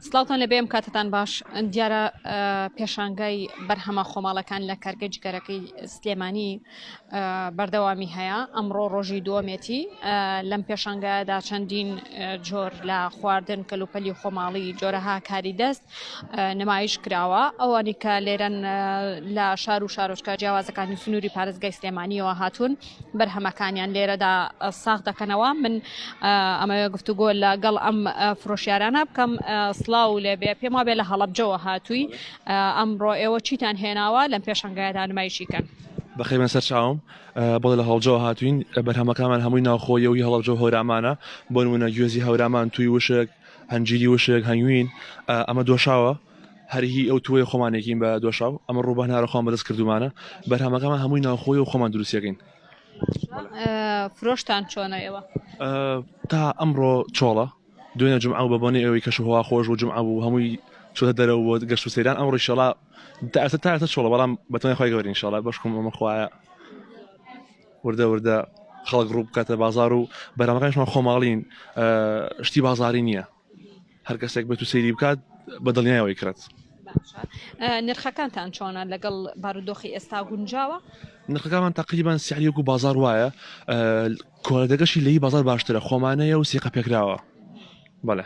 سلااوان لە بێم کاتتان باش دیارە پێشانگای بەرهەمە خۆماڵەکان لە کارگە جگەرەکەی سلێمانی بەردەوامی هەیە ئەمڕۆ ڕۆژی دووەمێتی لەم پێشانگایدا چەندین جۆر لە خواردن کەلوپەلی خۆماڵی جۆرەها کاری دەست نمایش کراوە ئەوانی کە لێرەن لە شار و شارۆچکە جیاوازەکانی سنووری پارێزگای سلێمانیەوە هاتوون بەرهەمەکانیان لێرەدا ساخ دەکەنەوە من ئەمەوێ گفتوگۆ لە گەڵ ئەم فرۆشیارانە بکەم سلااو و لێبێ پێم وابێ لە هەڵبجەوە هاتووی ئەمڕۆ ئێوە چیتان هێناوە لەم پێشنگایدا نمایشی کەن بەخێ من سەرچاوم بۆ لە هەڵجەوە هاتوین بەرهەمەکانمان هەمووی ناوخۆیەوەی هەڵبجە هەورامانە بۆنمونە گوێزی هەورمان توی وشک هەنجیری وشک هەنگوین ئەمە دۆشاوە هەر هی ئەو توێ خۆمانێکین بە دۆشاو ئەمە ڕووبان هەرە خۆم بەدەست کردومانە بەرهەمەکەمان هەمووی ناوخۆی و خۆمان دروستەکەین فرۆشتان چۆنە ئێوە تا ئەمڕۆ چۆڵە دوێنە جمع بە بۆنی ئەوەی کەش هوا خۆش و جمع بوو هەمووی چۆتە دەرەوە بۆ گەشت و سەیران ئەم ڕیشەڵا تاسە تاسە چۆڵە بەڵام بەتوانای خۆی گەورین شڵە بەشکم ئەمە خوایە وردە وردە خەڵک ڕوو بکاتە بازار و بەرامەکانشمان خۆماڵین شتی بازاری نییە هەر کەسێک بێت و سەیری بکات بە دڵنیایەوەی کرێت نرخەکانتان چۆنە لەگەڵ بارودۆخی ئێستا گونجاوە نرخەکانمان تقریبان سیعریەک و بازار وایە کۆلەدەگەشی لی بازار باشترە خۆمانەیە و سیقە پێکراوە بەڵێ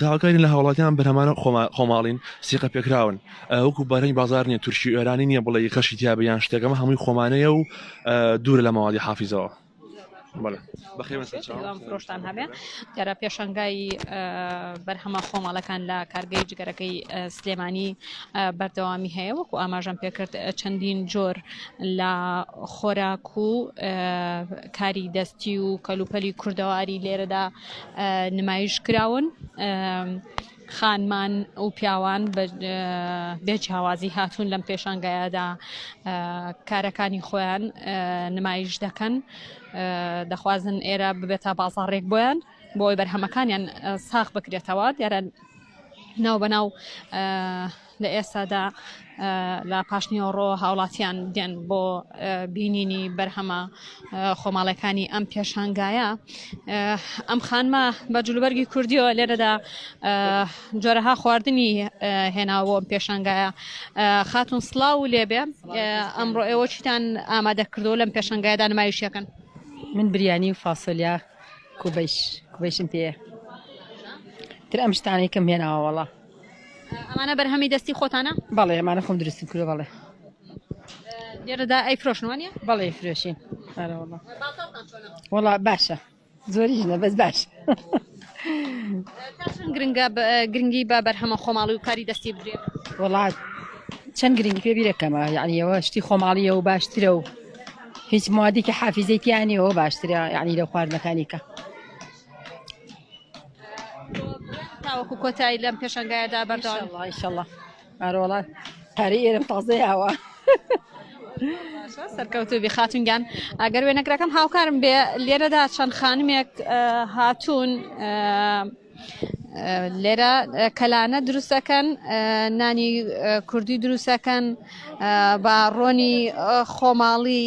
داواکارین لە هاوڵاتیان بەرهەمانە خۆماڵین سیقە پێکراون وەکو بەرەنی بازار نیە تورکی ئێرانی نیە بڵێ خەشی تیا بە یان شتێکەکەمە هەمووی خۆمانەیە و دوور لە ماوەی حافیزەوە. بەخێمەفرۆشتان هەبێ جارە پێشنگای بەرهەمە خۆماڵەکان لە کارگەی جگەرەکەی سلێمانی بەردەوامی هەیە وەکو ئاماژەم پێکرد چەندین جۆر لە خۆراک و کاری دەستی و کەلوپەلی کوردەواری لێرەدا نمایش کراون خانمان و پیاوان بێ جیاوازی هاتوون لەم پێشانگایەدا کارەکانی خۆیان نمایش دەکەن دەخوازن ئێرە ببێتە بازاڕێک بۆیان بۆی بەرهەمەکانیان ساخ بکرێتەوە دیارە ناو بەناو لە ئێستادا لە پاشنیوەڕۆ هاوڵاتیان دێن بۆ بینینی بەرهەمە خۆماڵەکانی ئەم پێشانگایە ئەم خانمە بە جلوبەرگی کوردیەوە لێرەدا جۆرەها خواردنی هێناوە ئەم پێشانگایە خاتون سلااو و لێبێ ئەمڕۆ ئێوە چیتان ئامادە کردو لەم پێشنگایدا نمایشەکەن من بریانی و فاسۆلیا کوبش کوبشم پێ تر ئەم شتانەی کەم هێناوەوەڵە ئەمانە بەرهەمی دەستی خۆتانە؟ بەڵێ ئەمانە خۆم دروستم کردوە بەڵێ لێرەدا ئەی فرۆشن وانە؟ بەڵێ فرۆشین وڵا باشە زۆریش نە بەس باش گرنگە گرنگی بە بەرهەمە خۆماڵی و کاری دەستی بدرێ وڵات چەند گرنگی پێ بیرەکەمە یعنیەوە شتی خۆماڵیە و باشترە و هیچ موادێکی حافیزەیتیانەوە باشترە یعنی لە خواردنەکانیکە. تاوەکو کۆتایی لەم پێشنگایەدا بەردەوام ئیشەڵڵا ئارۆڵات قەری ئێرم تازەی ئاوە. سەرکەوتوبی خاتونگیان ئەگەر وێنەگرەکەم هاوکارم بێ لێرەدا چەند خانمێک هاتوون لێرە کەلانە دروستەکەن نانی کوردی دروستەکەن بە ڕۆنی خۆماڵی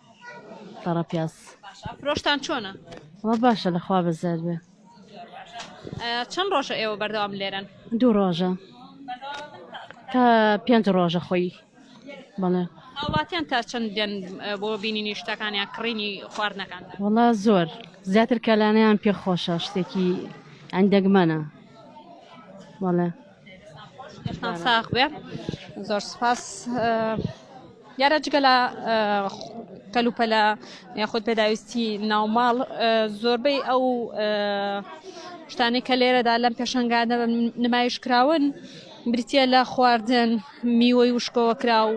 تەڕە پیاز. باشە فرۆشتان چۆنە؟ وە باشە لە خوا بەزیاد بێ. چەند ڕۆژە ئێوە بەردەوام لێرەن؟ دوو ڕۆژە تا پێنج ڕۆژە خۆی بەڵێ. هاوڵاتیان تا چەند دێن بۆ بینینی شتەکان یا کڕینی خواردنەکان؟ وەڵا زۆر زیاتر کەلانیان پێ خۆشە شتێکی ئەندەگمەنە بەڵێ. لەشتان ساخ بێ زۆر سپاس دیارە جگە لە کەلوپەلە یاخود پێداویستی ناوماڵ زۆربەی ئەو شتانی کە لێرەدا لەم پێشنگانە نمایش کراون بریتە لە خواردن میوەی وشکەوە کرا و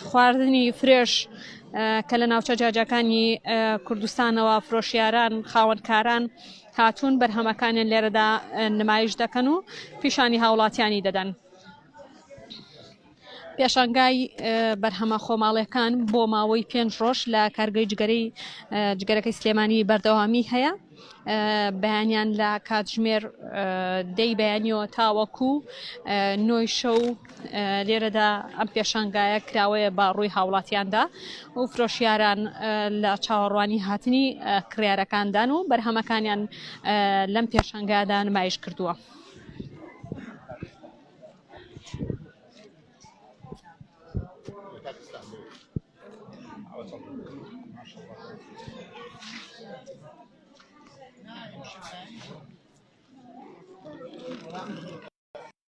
خواردنی فرێش کە لە ناوچە جاجەکانی کوردستانەوە فرۆشیاران خاوەنکاران و هاتوون بەرهەمەکانیان لێرەدا نمایش دەکەن و پیشانی هاوڵاتیانی دەدەن. پێشانگای بەرهەمە خۆماڵەکان بۆ ماوەی پێنج ڕۆژ لە کارگەی جگەرەی جگەرەکەی سلێمانی بەردەوامی هەیە بەیانیان لە کاتژمێر دەی بەیانیەوە تاوەکو نۆی شەو لێرەدا ئەم پێشانگایە کراوەیە بە ڕووی هاوڵاتیاندا و فرۆشیاران لە چاوەڕوانی هاتنی کڕارەکاندان و بەرهەمەکانیان لەم پێشانگادا نمایش کردووە.